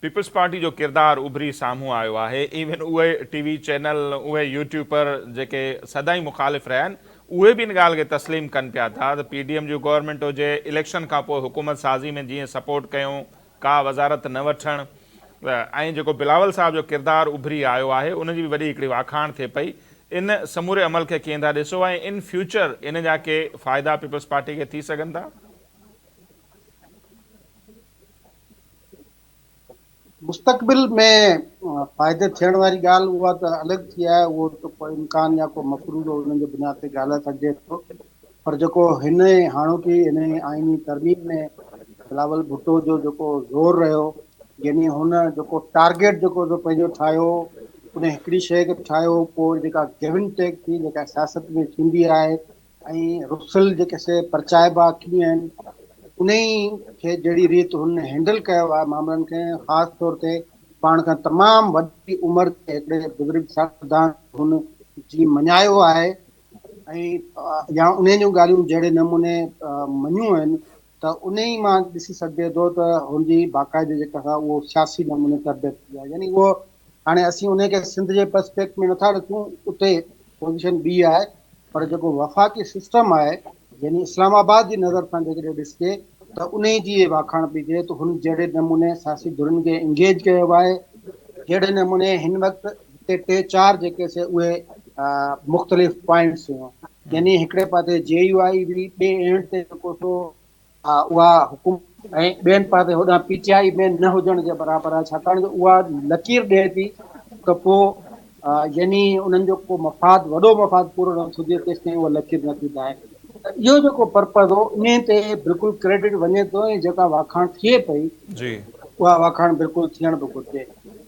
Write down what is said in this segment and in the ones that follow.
Peoples Party جو ڪردار اڀري سامهون آيو آهي، ايون اهي ٽي وي چينل، اهي يوٽيوپر جيڪي سدائين مخالف رهيا آهن، اهي به ان ڳالهه کي تسليم ڪن پيا ٿا ته پي ڊي ايم جي گورنمينٽ هجي، اليڪشن کانپوء حڪومت سازي ۾ جيئن سپورٽ ڪيون، ڪا وزارت نه وٺڻ ۽ جيڪو بلاول صاحب جو ڪردار اڀري آيو آهي ان جي به وڏي هڪڙي واکاڻ ٿئي پئي، ان سموري عمل کي ڪيئن ٿا ڏسو ۽ ان فيوچر ان جا ڪي فائدا پيپلز پارٽي کي ٿي سگهن ٿا؟ مستقبل ۾ فائدي ٿيڻ واري ڳالهه اها ته الڳ ٿي آهي اهو ته ڪو امڪان يا ڪو مفروضو انهن جي بنياد تي ڳالهائي سگهجي ٿو پر جيڪو هن هاڻوڪي هن آئيني ترميم ۾ بلاول ڀٽو جو جيڪو زور رهيو يعني هن جيڪو ٽارگيٽ جيڪو جو پنهنجو ٺاهيو ان هڪڙي شيء کي ٺاهيو پوء جيڪا گيون ٽيڪ ٿي جيڪا سياست ۾ ٿيندي آهي ۽ رسل جيڪي سي پرچائبا ڪيئن آهن انهي کي جهڙي ريت هن هينڊل ڪيو آهي معاملن کي خاص طور تي پاڻ کان تمام وڏي عمر تي هڪڙي بزرگ سائنسدان هن جي مڃايو آهي ۽ يا انهن جون ڳالهيون جهڙي نموني مڃيون آهن ته انهيء مان ڏسي سگهجي ٿو ته هن جي باقاعدي جيڪا سا اهو سياسي نموني تربيت ٿي آهي يعني اهو هاڻي اسين انهيء کي سنڌ جي پرسپيڪٽ ۾ نٿا ڏسون اتي پوزيشن ٻي آهي پر جيڪو وفاقي سسٽم آهي يعني اسلام آباد جي نظر سان جيڪڏهن ڏسجي ته انهيء جي واکاڻ پئي ٿئي ته هن جهڙي نموني سياسي ڌرين کي انگيج ڪيو آهي جهڙي نموني هن وقت جتي ٽي چار جيڪي سي اهي مختلف پوائنٽس هيون يعني هڪڙي پاسي جي يو آئي هئي ٻي اينڊ تي جيڪو سو اها حڪومت ۽ ٻين پاسي هوڏانهن پي ٽي آئي ۾ نه هجڻ جي برابر آهي ڇاڪاڻ جو اها لڪير ڏئي ٿي ته پوء يعني انهن جو ڪو مفاد وڏو مفاد پورو نه ٿو ٿئي تيستائين اها لڪير نه ٿي ڌائي اهو جيڪو پرپز هو انهي تي بلڪل ڪريڊٽ وڃي ٿو ۽ جيڪا واکاڻ ٿئي پئي اها واکاڻ بلڪل ٿيڻ به گهرجي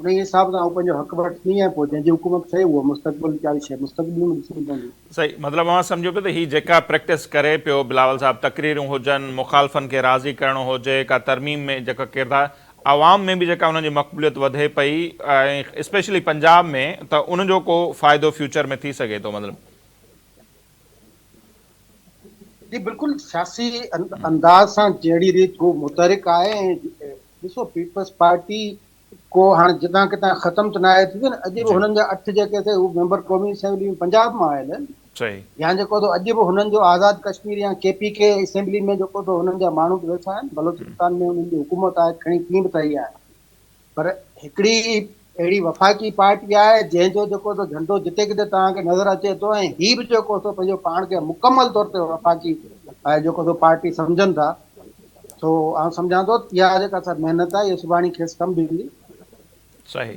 انهيء حساب سان هو پنهنجو حق وٺندي ۽ پوء جنهن جي حڪومت ٺهي اها مستقبل جي ڪاري شيء مستقبل ۾ ڏسڻي پوندي. صحيح مطلب اوهان سمجهو پيو ته هي جيڪا پريڪٽس ڪري پيو بلاول صاحب تقريرون هجن مخالفن کي راضي ڪرڻو هجي ڪا ترميم ۾ جيڪا ڪردار عوام ۾ به جيڪا انهن جي مقبوليت وڌي پئي ۽ اسپيشلي پنجاب ۾ ته ان جو ڪو فائدو فيوچر ۾ ٿي سگهي ٿو مطلب جي بلڪل سياسي انداز سان جهڙي ريت هو متحرڪ آهي ۽ ڏسو پيپلز پارٽي ڪو هاڻي جتان ڪتان ختم ته ناهي ٿي وئي نه اڄ به هنن جا اٺ جيڪي اٿئي هو ميمبر قومي اسيمبلي ۾ پنجاب مان آيل آهن يا جيڪو اٿو اڄ به هنن جو آزاد ڪشمير يا ڪي پي ڪي اسيمبلي ۾ جيڪو اٿو هنن جا ماڻهو ويٺا آهن بلوچستان ۾ هنن جي حڪومت آهي کڻي ڪيئن به ته اهي آهن پر هڪڙي اهڙي وفاقي پارٽي آهي جنهن جو جيڪو سو جهنڊو جتي ڪٿي توهان کي نظر اچي ٿو ۽ هي به جيڪو سو پنهنجو پاڻ کي مڪمل طور تي وفاقي جيڪو سو پارٽي سمجهن ٿا سو آئون سمجهان ٿو اها جيڪا سا محنت آهي اها سڀاڻي کيس ڪم به ايندي. صحيح.